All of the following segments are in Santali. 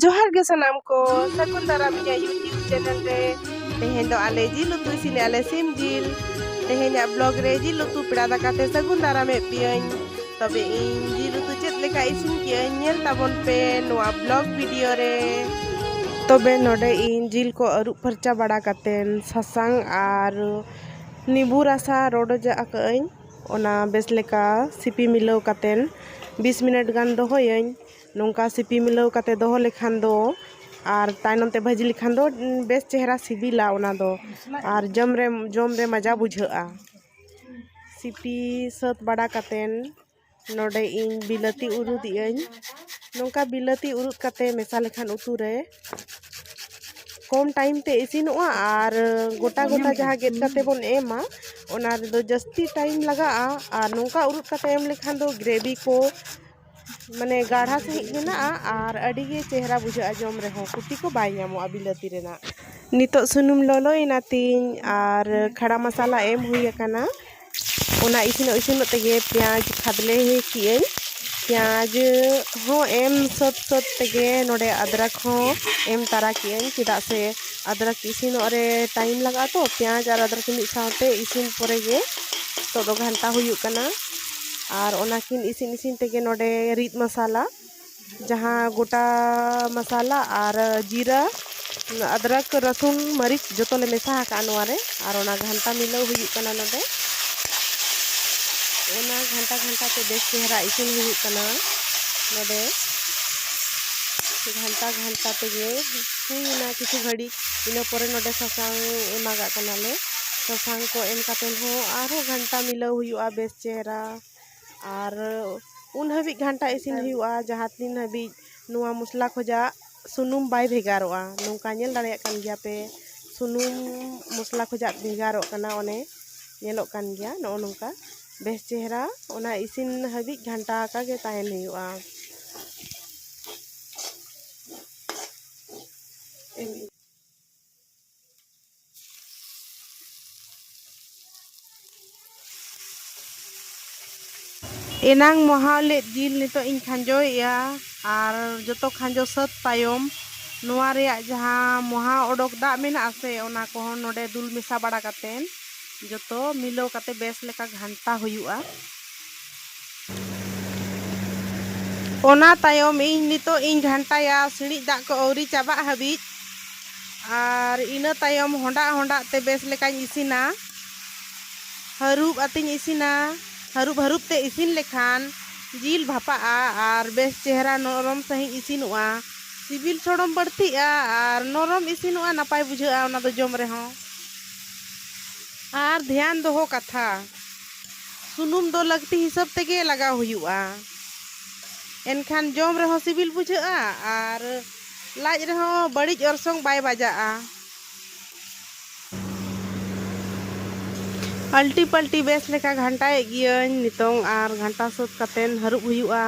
ᱡᱚᱦᱟᱨ ᱜᱮ ᱥᱟᱱᱟᱢ ᱠᱚ ᱥᱟᱹᱜᱩᱱ ᱫᱟᱨᱟᱢ ᱤᱧᱟᱹᱜ ᱭᱩᱴᱤᱭᱩᱵᱽ ᱪᱮᱱᱮᱞ ᱨᱮ ᱛᱮᱦᱮᱧ ᱫᱚ ᱟᱞᱮ ᱡᱤᱞ ᱩᱛᱩ ᱤᱥᱤᱱ ᱟᱞᱮ ᱥᱤᱢ ᱡᱤᱞ ᱛᱮᱦᱮᱧᱟᱜ ᱵᱞᱚᱜ ᱨᱮ ᱡᱤᱞ ᱩᱛᱩ ᱯᱮᱲᱟ ᱫᱟᱠᱟ ᱛᱮ ᱥᱟᱹᱜᱩᱱ ᱫᱟᱨᱟᱢᱮᱫ ᱯᱮᱭᱟᱹᱧ ᱛᱚᱵᱮ ᱤᱧ ᱡᱤᱞ ᱩᱛᱩ ᱪᱮᱫ ᱞᱮᱠᱟ ᱤᱥᱤᱱ ᱠᱮᱜᱼᱟᱹᱧ ᱧᱮᱞ ᱛᱟᱵᱚᱱ ᱯᱮ ᱱᱚᱣᱟ ᱵᱞᱚᱜ ᱵᱷᱤᱰᱤᱭᱳ ᱨᱮ ᱛᱚᱵᱮ ᱱᱚᱰᱮ ᱤᱧ ᱡᱤᱞ ᱠᱚ ᱟᱹᱨᱩᱵ ᱯᱷᱟᱨᱪᱟ ᱵᱟᱲᱟ ᱠᱟᱛᱮᱱ ᱥᱟᱥᱟᱝ ᱟᱨ ᱱᱤᱵᱩ ᱨᱟᱥᱟ ᱨᱚᱰᱚᱡ ᱟᱠᱟᱜᱼᱟᱹᱧ ᱚᱱᱟ ᱵᱮᱥ ᱞᱮᱠᱟ ᱥᱤᱯᱤ ᱢᱤᱞᱟᱹᱣ ᱠᱟᱛᱮᱱ ᱵᱤᱥ ᱢᱤᱱᱤᱴ ᱜᱟᱱ ᱫᱚᱦᱚᱭᱟᱹᱧ ᱱᱚᱝᱠᱟ ᱥᱤᱯᱤ ᱢᱤᱞᱟᱹᱣ ᱠᱟᱛᱮ ᱫᱚᱦᱚ ᱞᱮᱠᱷᱟᱱ ᱫᱚ ᱟᱨ ᱛᱟᱭᱱᱚᱢ ᱛᱮ ᱵᱷᱟᱹᱡᱤ ᱞᱮᱠᱷᱟᱱ ᱫᱚ ᱵᱮᱥ ᱪᱮᱦᱨᱟ ᱥᱤᱵᱤᱞᱟ ᱚᱱᱟ ᱫᱚ ᱟᱨ ᱡᱚᱢ ᱨᱮ ᱡᱚᱢ ᱨᱮ ᱢᱟᱡᱟ ᱵᱩᱡᱷᱟᱹᱜᱼᱟ ᱥᱤᱯᱤ ᱥᱟᱹᱛ ᱵᱟᱲᱟ ᱠᱟᱛᱮ ᱱᱚᱰᱮ ᱤᱧ ᱵᱤᱞᱟᱹᱛᱤ ᱩᱨᱩᱫ ᱮᱫᱟᱹᱧ ᱱᱚᱝᱠᱟ ᱵᱤᱞᱟᱹᱛᱤ ᱩᱨᱩᱫ ᱠᱟᱛᱮ ᱢᱮᱥᱟ ᱞᱮᱠᱷᱟᱱ ᱩᱛᱩ ᱨᱮ ᱠᱚᱢ ᱴᱟᱭᱤᱢ ᱛᱮ ᱤᱥᱤᱱᱚᱜᱼᱟ ᱟᱨ ᱜᱚᱴᱟ ᱜᱚᱴᱟ ᱡᱟᱦᱟᱸ ᱜᱮᱫ ᱠᱟᱛᱮ ᱵᱚᱱ ᱮᱢᱟ ᱚᱱᱟ ᱨᱮᱫᱚ ᱡᱟᱹᱥᱛᱤ ᱴᱟᱭᱤᱢ ᱞᱟᱜᱟᱜᱼᱟ ᱟᱨ ᱱᱚᱝᱠᱟ ᱩᱨᱩᱫ ᱠᱟᱛᱮ ᱮᱢ ᱞᱮᱠᱷᱟᱱ ᱫᱚ ᱜᱨᱮᱵᱷᱤ ᱠᱚ ᱢᱟᱱᱮ ᱜᱟᱲᱦᱟ ᱥᱟᱺᱦᱤᱡ ᱢᱮᱱᱟᱜᱼᱟ ᱟᱨ ᱟᱹᱰᱤ ᱜᱮ ᱪᱮᱦᱨᱟ ᱵᱩᱡᱷᱟᱹᱜᱼᱟ ᱡᱚᱢ ᱨᱮᱦᱚᱸ ᱠᱷᱚᱛᱤ ᱠᱚ ᱵᱟᱭ ᱧᱟᱢᱚᱜᱼᱟ ᱵᱤᱞᱟᱹᱛᱤ ᱨᱮᱱᱟᱜ ᱱᱤᱛᱚᱜ ᱥᱩᱱᱩᱢ ᱞᱚᱞᱚᱭᱮᱱᱟ ᱛᱤᱧ ᱟᱨ ᱠᱷᱟᱲᱟ ᱢᱚᱥᱟᱞᱟ ᱮᱢ ᱦᱩᱭ ᱟᱠᱟᱱᱟ ᱚᱱᱟ ᱤᱥᱤᱱᱚᱜ ᱤᱥᱤᱱᱚᱜ ᱛᱮᱜᱮ ᱯᱮᱸᱭᱟᱡᱽ ᱠᱷᱟᱫᱽᱞᱮ ᱠᱮᱜ ᱟᱹᱧ ᱯᱮᱸᱭᱟᱡᱽ ᱦᱚᱸ ᱮᱢ ᱥᱟᱹᱛ ᱥᱟᱹᱛ ᱛᱮᱜᱮ ᱱᱚᱰᱮ ᱟᱫᱽᱨᱚᱠ ᱦᱚᱸ ᱮᱢ ᱛᱟᱨᱟ ᱠᱮᱜ ᱟᱹᱧ ᱪᱮᱫᱟᱜ ᱥᱮ ᱟᱫᱽᱨᱚᱠ ᱤᱥᱤᱱᱚᱜ ᱨᱮ ᱴᱟᱭᱤᱢ ᱞᱟᱜᱟᱜᱼᱟ ᱛᱚ ᱯᱮᱸᱭᱟᱡᱽ ᱟᱨ ᱟᱫᱽᱨᱚᱠ ᱢᱤᱫ ᱥᱟᱶᱛᱮ ᱤᱥᱤᱱ ᱯᱚᱨᱮ ᱜᱮ ᱱᱤᱛᱚᱜ ᱫᱚ ᱜᱷᱟᱱᱴᱟ ᱦᱩᱭᱩᱜ ᱠᱟᱱᱟ ᱟᱨ ᱚᱱᱟ ᱠᱤᱱ ᱤᱥᱤᱱ ᱤᱥᱤᱱ ᱛᱮᱜᱮ ᱱᱚᱰᱮ ᱨᱤᱫ ᱢᱚᱥᱟᱞᱟ ᱡᱟᱦᱟᱸ ᱜᱚᱴᱟ ᱢᱚᱥᱟᱞᱟ ᱟᱨ ᱡᱤᱨᱟᱹ ᱟᱫᱨᱟᱠ ᱨᱟᱹᱥᱩᱱ ᱢᱟᱹᱨᱤᱪ ᱡᱚᱛᱚ ᱞᱮ ᱢᱮᱥᱟ ᱟᱠᱟᱫᱼᱟ ᱱᱚᱣᱟ ᱨᱮ ᱟᱨ ᱚᱱᱟ ᱜᱷᱟᱱᱴᱟ ᱢᱤᱞᱟᱹᱣ ᱦᱩᱭᱩᱜ ᱠᱟᱱᱟ ᱱᱚᱰᱮ ᱚᱱᱟ ᱜᱷᱟᱱᱴᱟ ᱜᱷᱟᱱᱴᱟ ᱛᱮ ᱵᱮᱥ ᱪᱮᱦᱨᱟ ᱤᱥᱤᱱ ᱦᱩᱭᱩᱜ ᱠᱟᱱᱟ ᱱᱚᱰᱮ ᱜᱷᱟᱱᱴᱟ ᱜᱷᱟᱱᱴᱟ ᱛᱮᱜᱮ ᱦᱩᱭᱱᱟ ᱠᱤᱪᱷᱩ ᱜᱷᱟᱹᱲᱤᱡ ᱤᱱᱟᱹ ᱯᱚᱨᱮ ᱱᱚᱰᱮ ᱥᱟᱥᱟᱝ ᱮᱢᱟᱜᱟᱜ ᱠᱟᱱᱟᱞᱮ ᱥᱟᱥᱟᱝ ᱠᱚ ᱮᱢ ᱠᱟᱛᱮ ᱦᱚᱸ ᱟᱨᱦᱚᱸ ᱜᱷᱟᱱᱴᱟ ᱢᱤᱞᱟᱹᱣ ᱦᱩᱭᱩᱜᱼᱟ ᱵᱮᱥ ᱪᱮᱦᱨᱟ ᱟᱨ ᱩᱱ ᱦᱟᱹᱵᱤᱡ ᱜᱷᱟᱱᱴᱟ ᱤᱥᱤᱱ ᱦᱩᱭᱩᱜᱼᱟ ᱡᱟᱦᱟᱸ ᱛᱤᱱ ᱦᱟᱹᱵᱤᱡ ᱱᱚᱣᱟ ᱢᱚᱥᱞᱟ ᱠᱷᱚᱱᱟᱜ ᱥᱩᱱᱩᱢ ᱵᱟᱭ ᱵᱷᱮᱜᱟᱨᱚᱜᱼᱟ ᱱᱚᱝᱠᱟ ᱧᱮᱞ ᱫᱟᱲᱮᱭᱟᱜ ᱠᱟᱱ ᱜᱮᱭᱟ ᱯᱮ ᱥᱩᱱᱩᱢ ᱢᱚᱥᱞᱟ ᱠᱷᱚᱱᱟᱜ ᱵᱷᱮᱜᱟᱨᱚᱜ ᱠᱟᱱᱟ ᱚᱱᱮ ᱧᱮᱞᱚᱜ ᱠᱟᱱ ᱜᱮᱭᱟ ᱱᱚᱜᱼᱚ ᱱᱚᱝᱠᱟ ᱵᱮᱥ ᱪᱮᱦᱨᱟ ᱚᱱᱟ ᱤᱥᱤᱱ ᱦᱟᱹᱵᱤᱡ ᱜᱷᱟᱱᱴᱟ ᱟᱠᱟᱜᱮ ᱛᱟᱦᱮᱱ ᱦᱩᱭᱩᱜᱼᱟ ᱮᱱᱟᱝ ᱢᱚᱦᱟᱣ ᱞᱮᱫ ᱡᱤᱞ ᱱᱤᱛᱚᱜ ᱤᱧ ᱠᱷᱟᱸᱡᱚᱭᱮᱜᱼᱟ ᱟᱨ ᱡᱚᱛᱚ ᱠᱷᱟᱸᱡᱚ ᱥᱟᱹᱛ ᱛᱟᱭᱚᱢ ᱱᱚᱣᱟ ᱨᱮᱭᱟᱜ ᱡᱟᱦᱟᱸ ᱢᱚᱦᱟ ᱚᱰᱚᱠ ᱫᱟᱜ ᱢᱮᱱᱟᱜᱼᱟ ᱥᱮ ᱚᱱᱟ ᱠᱚᱦᱚᱸ ᱱᱚᱰᱮ ᱫᱩᱞ ᱢᱮᱥᱟ ᱵᱟᱲᱟ ᱠᱟᱛᱮᱫ ᱡᱚᱛᱚ ᱢᱤᱞᱟᱹᱣ ᱠᱟᱛᱮᱫ ᱵᱮᱥ ᱞᱮᱠᱟ ᱜᱷᱟᱱᱴᱟ ᱦᱩᱭᱩᱜᱼᱟ ᱚᱱᱟ ᱛᱟᱭᱚᱢ ᱤᱧ ᱱᱤᱛᱚᱜ ᱤᱧ ᱜᱷᱟᱱᱴᱟᱭᱟ ᱥᱤᱬᱤᱡ ᱫᱟᱜ ᱠᱚ ᱟᱹᱣᱨᱤ ᱪᱟᱵᱟᱜ ᱦᱟᱹᱵᱤᱡ ᱟᱨ ᱤᱱᱟᱹ ᱛᱟᱭᱚᱢ ᱦᱚᱸᱰᱟᱜ ᱦᱚᱸᱰᱟᱜ ᱛᱮ ᱵᱮᱥ ᱞᱮᱠᱟᱧ ᱤᱥᱤᱱᱟ ᱦᱟᱹᱨᱩᱵ ᱟᱛᱮᱧ ᱤᱥᱤᱱᱟ ᱦᱟᱹᱨᱩᱵ ᱦᱟᱹᱨᱩᱵ ᱛᱮ ᱤᱥᱤᱱ ᱞᱮᱠᱷᱟᱱ ᱡᱤᱞ ᱵᱷᱟᱯᱟᱜᱼᱟ ᱟᱨ ᱵᱮᱥ ᱪᱮᱦᱨᱟ ᱱᱚᱨᱚᱢ ᱥᱟᱺᱦᱤᱡ ᱤᱥᱤᱱᱚᱜᱼᱟ ᱥᱤᱵᱤᱞ ᱥᱚᱲᱚᱢ ᱵᱟᱹᱲᱛᱤᱜᱼᱟ ᱟᱨ ᱱᱚᱨᱚᱢ ᱤᱥᱤᱱᱚᱜᱼᱟ ᱱᱟᱯᱟᱭ ᱵᱩᱡᱷᱟᱹᱜᱼᱟ ᱚᱱᱟ ᱫᱚ ᱡᱚᱢ ᱨᱮᱦᱚᱸ ᱟᱨ ᱫᱷᱮᱭᱟᱱ ᱫᱚᱦᱚ ᱠᱟᱛᱷᱟ ᱥᱩᱱᱩᱢ ᱫᱚ ᱞᱟᱹᱠᱛᱤ ᱦᱤᱥᱟᱹᱵ ᱛᱮᱜᱮ ᱞᱟᱜᱟᱣ ᱦᱩᱭᱩᱜᱼᱟ ᱮᱱᱠᱷᱟᱱ ᱡᱚᱢ ᱨᱮᱦᱚᱸ ᱥᱤᱵᱤᱞ ᱵᱩᱡᱷᱟᱹᱜᱼᱟ ᱟᱨ ᱞᱟᱡ ᱨᱮᱦᱚᱸ ᱵᱟᱹᱲᱤᱡ ᱚᱨᱥᱚᱝ ᱵᱟᱭ ᱵᱟᱡᱟᱜᱼᱟ ᱟᱞᱴᱤ ᱯᱟᱞᱴᱤ ᱵᱮᱥ ᱞᱮᱠᱟ ᱜᱷᱟᱱᱴᱟᱭᱮᱫ ᱜᱤᱭᱟᱹᱧ ᱱᱤᱛᱚᱝ ᱟᱨ ᱜᱷᱟᱱᱴᱟ ᱥᱟᱹᱛ ᱠᱟᱛᱮᱱ ᱦᱟᱹᱨᱩᱵ ᱦᱩᱭᱩᱜᱼᱟ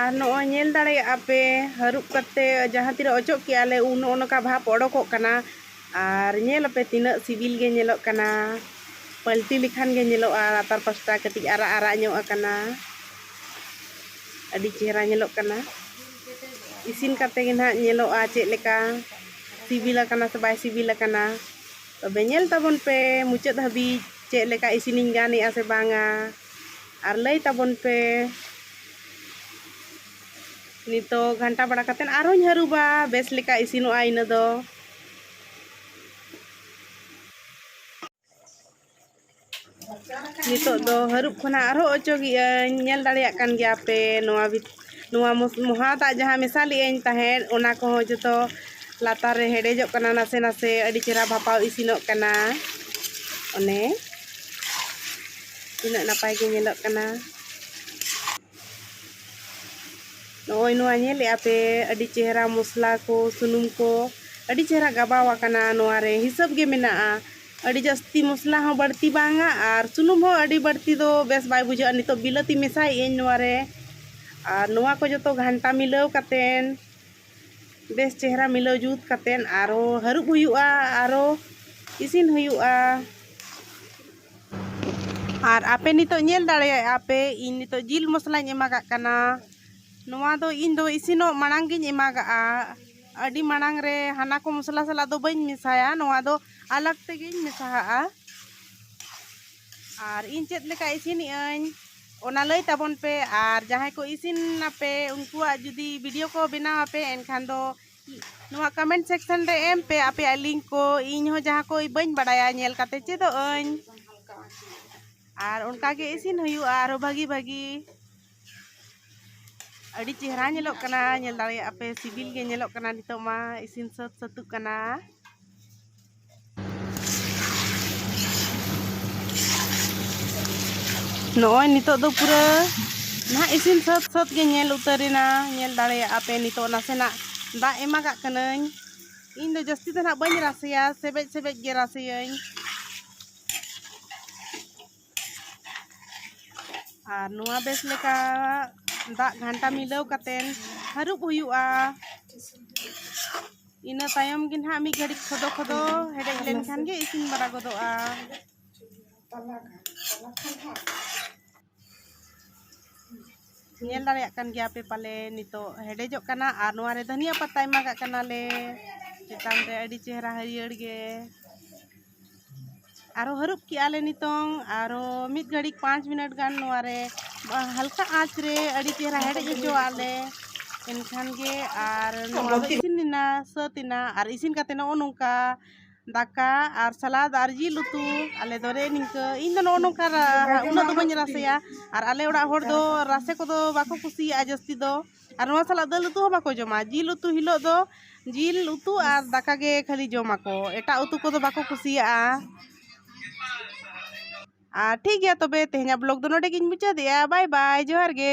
ᱟᱨ ᱱᱚᱜᱼᱚᱭ ᱧᱮᱞ ᱫᱟᱲᱮᱭᱟᱜᱼᱟ ᱯᱮ ᱦᱟᱹᱨᱩᱵ ᱠᱟᱛᱮ ᱡᱟᱦᱟᱸ ᱛᱤᱱᱟᱹᱜ ᱚᱪᱚᱜ ᱠᱮᱜᱼᱟ ᱞᱮ ᱩᱱ ᱱᱚᱜᱼᱚ ᱱᱚᱝᱠᱟ ᱵᱷᱟᱵᱽ ᱚᱰᱚᱠᱚᱜ ᱠᱟᱱᱟ ᱟᱨ ᱧᱮᱞ ᱟᱯᱮ ᱛᱤᱱᱟᱹᱜ ᱥᱤᱵᱤᱞ ᱜᱮ ᱧᱮᱞᱚᱜ ᱠᱟᱱᱟ ᱯᱟᱹᱞᱴᱤ ᱞᱮᱠᱷᱟᱱ ᱜᱮ ᱧᱮᱞᱚᱜᱼᱟ ᱞᱟᱛᱟᱨ ᱯᱟᱥᱴᱟ ᱠᱟᱹᱴᱤᱡ ᱟᱨᱟᱜ ᱟᱨᱟᱜ ᱧᱚᱜ ᱟᱠᱟᱱᱟ ᱟᱹᱰᱤ ᱪᱮᱦᱨᱟ ᱧᱮᱞᱚᱜ ᱠᱟᱱᱟ ᱤᱥᱤᱱ ᱠᱟᱛᱮ ᱜᱮ ᱱᱟᱦᱟᱜ ᱧᱮᱞᱚᱜᱼᱟ ᱪᱮᱫ ᱞᱮᱠᱟ ᱥᱤᱵᱤᱞ ᱟᱠᱟᱱᱟ ᱥᱮ ᱵᱟᱭ ᱥᱤᱵᱤᱞ ᱟᱠᱟᱱᱟ ᱛᱚᱵᱮ ᱧᱮᱞ ᱛᱟᱵᱚᱱ ᱯᱮ ᱢᱩᱪᱟᱹᱫ ᱦᱟᱹᱵᱤᱡ ᱪᱮᱫ ᱞᱮᱠᱟ ᱤᱥᱤᱱᱤᱧ ᱜᱟᱱ ᱮᱫᱟ ᱥᱮ ᱵᱟᱝᱟ ᱟᱨ ᱞᱟᱹᱭ ᱛᱟᱵᱚᱱ ᱯᱮ ᱱᱤᱛᱚᱜ ᱜᱷᱟᱱᱴᱟ ᱵᱟᱲᱟ ᱠᱟᱛᱮ ᱟᱨᱦᱚᱸᱧ ᱦᱟᱹᱨᱩᱵᱟ ᱵᱮᱥ ᱞᱮᱠᱟ ᱤᱥᱤᱱᱚᱜᱼᱟ ᱤᱱᱟᱹ ᱫᱚ ᱱᱤᱛᱚᱜ ᱫᱚ ᱦᱟᱹᱨᱩᱵ ᱠᱷᱚᱱᱟᱜ ᱟᱨᱦᱚᱸ ᱚᱪᱚᱜᱮᱜᱼᱟᱹᱧ ᱧᱮᱞ ᱫᱟᱲᱮᱭᱟᱜ ᱠᱟᱱ ᱜᱮᱭᱟ ᱯᱮ ᱱᱚᱣᱟ ᱱᱚᱣᱟ ᱢᱚᱦᱟ ᱫᱟᱜ ᱡᱟᱦᱟᱸ ᱢᱮᱥᱟ ᱞᱮᱜᱼᱟᱹᱧ ᱛᱟᱦᱮᱸᱫ ᱚᱱᱟ ᱠᱚᱦᱚᱸ ᱡᱚᱛᱚ ᱞᱟᱛᱟᱨ ᱨᱮ ᱦᱮᱰᱮᱡᱚᱜ ᱠᱟᱱᱟ ᱱᱟᱥᱮ ᱱᱟᱥᱮ ᱟᱹᱰᱤ ᱪᱮᱦᱨᱟ ᱵᱷᱟᱯᱟᱣ ᱤᱥᱤᱱᱚᱜ ᱠᱟᱱᱟ ᱚᱱᱮ ᱛᱤᱱᱟᱹᱜ ᱱᱟᱯᱟᱭ ᱜᱮ ᱧᱮᱞᱚᱜ ᱠᱟᱱᱟ ᱱᱚᱜᱼᱚᱭ ᱱᱚᱣᱟ ᱧᱮᱞᱮᱜᱼᱟ ᱯᱮ ᱟᱹᱰᱤ ᱪᱮᱦᱨᱟ ᱢᱚᱥᱞᱟ ᱠᱚ ᱥᱩᱱᱩᱢ ᱠᱚ ᱟᱹᱰᱤ ᱪᱮᱦᱨᱟ ᱜᱟᱵᱟᱣ ᱟᱠᱟᱱᱟ ᱱᱚᱣᱟ ᱨᱮ ᱦᱤᱥᱟᱹᱵ ᱜᱮ ᱢᱮᱱᱟᱜᱼᱟ ᱟᱹᱰᱤ ᱡᱟᱹᱥᱛᱤ ᱢᱚᱥᱞᱟ ᱦᱚᱸ ᱵᱟᱹᱲᱛᱤ ᱵᱟᱝᱟ ᱟᱨ ᱥᱩᱱᱩᱢ ᱦᱚᱸ ᱟᱹᱰᱤ ᱵᱟᱹᱲᱛᱤ ᱫᱚ ᱵᱮᱥ ᱵᱟᱭ ᱵᱩᱡᱷᱟᱹᱜᱼᱟ ᱱᱤᱛᱚᱜ ᱵᱤᱞᱟᱹᱛᱤ ᱢᱮᱥᱟᱭᱮᱜ ᱟᱹᱧ ᱱᱚᱣᱟ ᱨᱮ ᱟᱨ ᱱᱚᱣᱟ ᱠᱚ ᱡᱚᱛᱚ ᱜᱷᱟᱱᱴᱟ ᱢᱤᱞᱟᱹᱣ ᱠᱟᱛᱮ ᱵᱮᱥ ᱪᱮᱦᱨᱟ ᱢᱤᱞᱟᱹᱣ ᱡᱩᱛ ᱠᱟᱛᱮ ᱟᱨᱚ ᱦᱟᱹᱨᱩᱵ ᱦᱩᱭᱩᱜᱼᱟ ᱟᱨᱚ ᱤᱥᱤᱱ ᱦᱩᱭᱩᱜᱼᱟ ᱟᱨ ᱟᱯᱮ ᱱᱤᱛᱚᱜ ᱧᱮᱞ ᱫᱟᱲᱮᱭᱟᱜ ᱟᱯᱮ ᱤᱧ ᱱᱤᱛᱚᱜ ᱡᱤᱞ ᱢᱚᱥᱞᱟᱧ ᱮᱢᱟᱜᱟᱜ ᱠᱟᱱᱟ ᱱᱚᱣᱟ ᱫᱚ ᱤᱧ ᱫᱚ ᱤᱥᱤᱱᱚᱜ ᱢᱟᱲᱟᱝ ᱜᱤᱧ ᱮᱢᱟᱜᱟᱜᱼᱟ ᱟᱹᱰᱤ ᱢᱟᱲᱟᱝ ᱨᱮ ᱦᱟᱱᱟ ᱠᱚ ᱢᱚᱥᱞᱟ ᱥᱟᱞᱟᱜ ᱫᱚ ᱵᱟᱹᱧ ᱢᱮᱥᱟᱭᱟ ᱱᱚᱣᱟ ᱫᱚ ᱟᱞᱟᱜᱽ ᱛᱮᱜᱮᱧ ᱢᱮᱥᱟᱦᱟᱜᱼᱟ ᱟᱨ ᱤᱧ ᱪᱮᱫ ᱞᱮᱠᱟ ᱤᱥᱤᱱᱮᱜ ᱟᱹᱧ ᱚᱱᱟ ᱞᱟᱹᱭ ᱛᱟᱵᱚᱱ ᱯᱮ ᱟᱨ ᱡᱟᱦᱟᱸᱭ ᱠᱚ ᱤᱥᱤᱱ ᱟᱯᱮ ᱩᱱᱠᱩᱣᱟᱜ ᱡᱩᱫᱤ ᱵᱷᱤᱰᱤᱭᱳ ᱠᱚ ᱵᱮᱱᱟᱣ ᱟᱯᱮ ᱮᱱᱠᱷᱟᱱ ᱫᱚ ᱱᱚᱣᱟ ᱠᱚᱢᱮᱱᱴ ᱥᱮᱠᱥᱚᱱ ᱨᱮ ᱮᱢ ᱯᱮ ᱟᱯᱮᱭᱟᱜ ᱞᱤᱝᱠ ᱠᱚ ᱤᱧ ᱦᱚᱸ ᱡᱟᱦᱟᱸ ᱠᱚ ᱵᱟᱹᱧ ᱵᱟᱲᱟᱭᱟ ᱧᱮᱞ ᱠᱟᱛᱮ ᱪᱮᱫᱚᱜ ᱟᱹᱧ ᱟᱨ ᱚᱱᱠᱟ ᱜᱮ ᱤᱥᱤᱱ ᱦᱩᱭᱩᱜᱼᱟ ᱟᱨᱚ ᱵᱷᱟᱹᱜᱤ ᱵᱷᱟᱹᱜᱤ ᱟᱹᱰᱤ ᱪᱮᱦᱨᱟ ᱧᱮᱞᱚᱜ ᱠᱟᱱᱟ ᱧᱮᱞ ᱫᱟᱲᱮᱭᱟᱜᱼᱟ ᱯᱮ ᱥᱤᱵᱤᱞ ᱜᱮ ᱧᱮᱞᱚᱜ ᱠᱟᱱᱟ ᱱᱤᱛᱚᱜ ᱢᱟ ᱤᱥᱤᱱ ᱥᱟᱹᱛ ᱥᱟᱹᱛᱚᱜ ᱠᱟᱱᱟ ᱱᱚᱜᱼᱚᱭ ᱱᱤᱛᱚᱜ ᱫᱚ ᱯᱩᱨᱟᱹ ᱱᱟᱦᱟᱜ ᱤᱥᱤᱱ ᱥᱟᱹᱛ ᱥᱟᱹᱛ ᱜᱮ ᱧᱮᱞ ᱩᱛᱟᱹᱨᱮᱱᱟ ᱧᱮᱞ ᱫᱟᱲᱮᱭᱟᱜᱼᱟ ᱯᱮ ᱱᱤᱛᱚᱜ ᱱᱟᱥᱮᱱᱟᱜ ᱫᱟᱜ ᱮᱢᱟ ᱠᱟᱜ ᱠᱟᱹᱱᱟᱹᱧ ᱤᱧ ᱫᱚ ᱡᱟᱹᱥᱛᱤ ᱫᱚ ᱱᱟᱦᱟᱜ ᱵᱟᱹᱧ ᱨᱟᱥᱮᱭᱟ ᱥᱮᱵᱮᱡ ᱥᱮᱵᱮᱡ ᱜᱮ ᱨᱟᱥᱮᱭᱟᱹᱧ ᱟᱨ ᱱᱚᱣᱟ ᱵᱮᱥ ᱞᱮᱠᱟ ᱫᱟᱜ ᱜᱷᱟᱱᱴᱟ ᱢᱤᱞᱟᱹᱣ ᱠᱟᱛᱮ ᱦᱟᱹᱨᱩᱵ ᱦᱩᱭᱩᱜᱼᱟ ᱤᱱᱟᱹ ᱛᱟᱭᱚᱢ ᱜᱮ ᱱᱟᱦᱟᱜ ᱢᱤᱫ ᱜᱷᱟᱹᱲᱤᱡ ᱠᱷᱚᱫᱚ ᱠᱷᱚᱫᱚ ᱦᱮᱰᱮᱡ ᱞᱮᱱᱠᱷᱟᱱ ᱜᱮ ᱤᱥᱤᱱ ᱵᱟᱲᱟ ᱜᱚᱫᱚᱜᱼᱟ ᱧᱮᱞ ᱫᱟᱲᱮᱭᱟᱜ ᱠᱟᱱ ᱜᱮᱭᱟ ᱯᱮ ᱯᱟᱞᱮ ᱱᱤᱛᱚᱜ ᱦᱮᱰᱮᱡᱚᱜ ᱠᱟᱱᱟ ᱟᱨ ᱱᱚᱣᱟ ᱨᱮ ᱫᱷᱟᱹᱱᱤᱭᱟᱹ ᱯᱟᱛᱟ ᱮᱢᱟᱜᱟᱜ ᱠᱟᱱᱟᱞᱮ ᱪᱮᱛᱟᱱ ᱨᱮ ᱟᱹᱰᱤ ᱪᱮᱦᱨᱟ ᱦᱟᱹᱨᱭᱟᱹᱲ ᱜᱮ ᱟᱨᱚ ᱦᱟᱹᱨᱩᱵ ᱠᱮᱜᱼᱟ ᱞᱮ ᱱᱤᱛᱚᱝ ᱟᱨᱚ ᱢᱤᱫ ᱜᱷᱟᱹᱲᱤᱡ ᱯᱟᱸᱪ ᱢᱤᱱᱤᱴ ᱜᱟᱱ ᱱᱚᱣᱟ ᱨᱮ ᱦᱟᱞᱠᱟ ᱟᱸᱪ ᱨᱮ ᱟᱹᱰᱤ ᱪᱮᱦᱨᱟ ᱦᱮᱰᱮᱡ ᱦᱚᱪᱚᱣᱟᱜ ᱞᱮ ᱮᱱᱠᱷᱟᱱ ᱜᱮ ᱟᱨ ᱱᱚᱣᱟ ᱫᱚ ᱤᱥᱤᱱ ᱮᱱᱟ ᱥᱟᱹᱛ ᱮᱱᱟ ᱟᱨ ᱤᱥᱤᱱ ᱠᱟᱛᱮ ᱱᱚᱜᱼᱚ ᱱᱚᱝᱠᱟ ᱫᱟᱠᱟ ᱟᱨ ᱥᱟᱞᱟᱫ ᱟᱨ ᱡᱤᱞ ᱩᱛᱩ ᱟᱞᱮ ᱫᱚ ᱨᱮ ᱱᱤᱝᱠᱟᱹ ᱤᱧ ᱫᱚ ᱱᱚᱜᱼᱚ ᱱᱚᱝᱠᱟ ᱩᱱᱟᱹᱜ ᱫᱚ ᱵᱟᱹᱧ ᱨᱟᱥᱮᱭᱟ ᱟᱨ ᱟᱞᱮ ᱚᱲᱟᱜ ᱦᱚᱲ ᱫᱚ ᱨᱟᱥᱮ ᱠᱚᱫᱚ ᱵᱟᱠᱚ ᱠᱩᱥᱤᱭᱟᱜᱼᱟ ᱡᱟᱹᱥᱛᱤ ᱫᱚ ᱟᱨ ᱱᱚᱣᱟ ᱥᱟᱞᱟᱜ ᱫᱟᱹᱞ ᱩᱛᱩ ᱦᱚᱸ ᱵᱟᱠᱚ ᱡᱚᱢᱟ ᱡᱤᱞ ᱩᱛᱩ ᱦᱤᱞᱳᱜ ᱫᱚ ᱡᱤᱞ ᱩᱛᱩ ᱟᱨ ᱫᱟᱠᱟ ᱜᱮ ᱠᱷᱟᱹᱞᱤ ᱡᱚᱢᱟᱠᱚ ᱮᱴᱟᱜ ᱩᱛᱩ ᱠᱚᱫᱚ ᱵᱟᱠᱚ ᱠᱩᱥᱤᱭᱟᱜᱼᱟ ᱟᱨ ᱴᱷᱤᱠ ᱜᱮᱭᱟ ᱛᱚᱵᱮ ᱛᱮᱦᱮᱧᱟᱜ ᱵᱞᱚᱜᱽ ᱫᱚ ᱱᱚᱰᱮ ᱜᱤᱧ ᱢᱩᱪᱟᱹᱫᱮᱜᱼᱟ ᱵᱟᱭ ᱵᱟᱭ ᱡᱚᱦᱟᱨ ᱜᱮ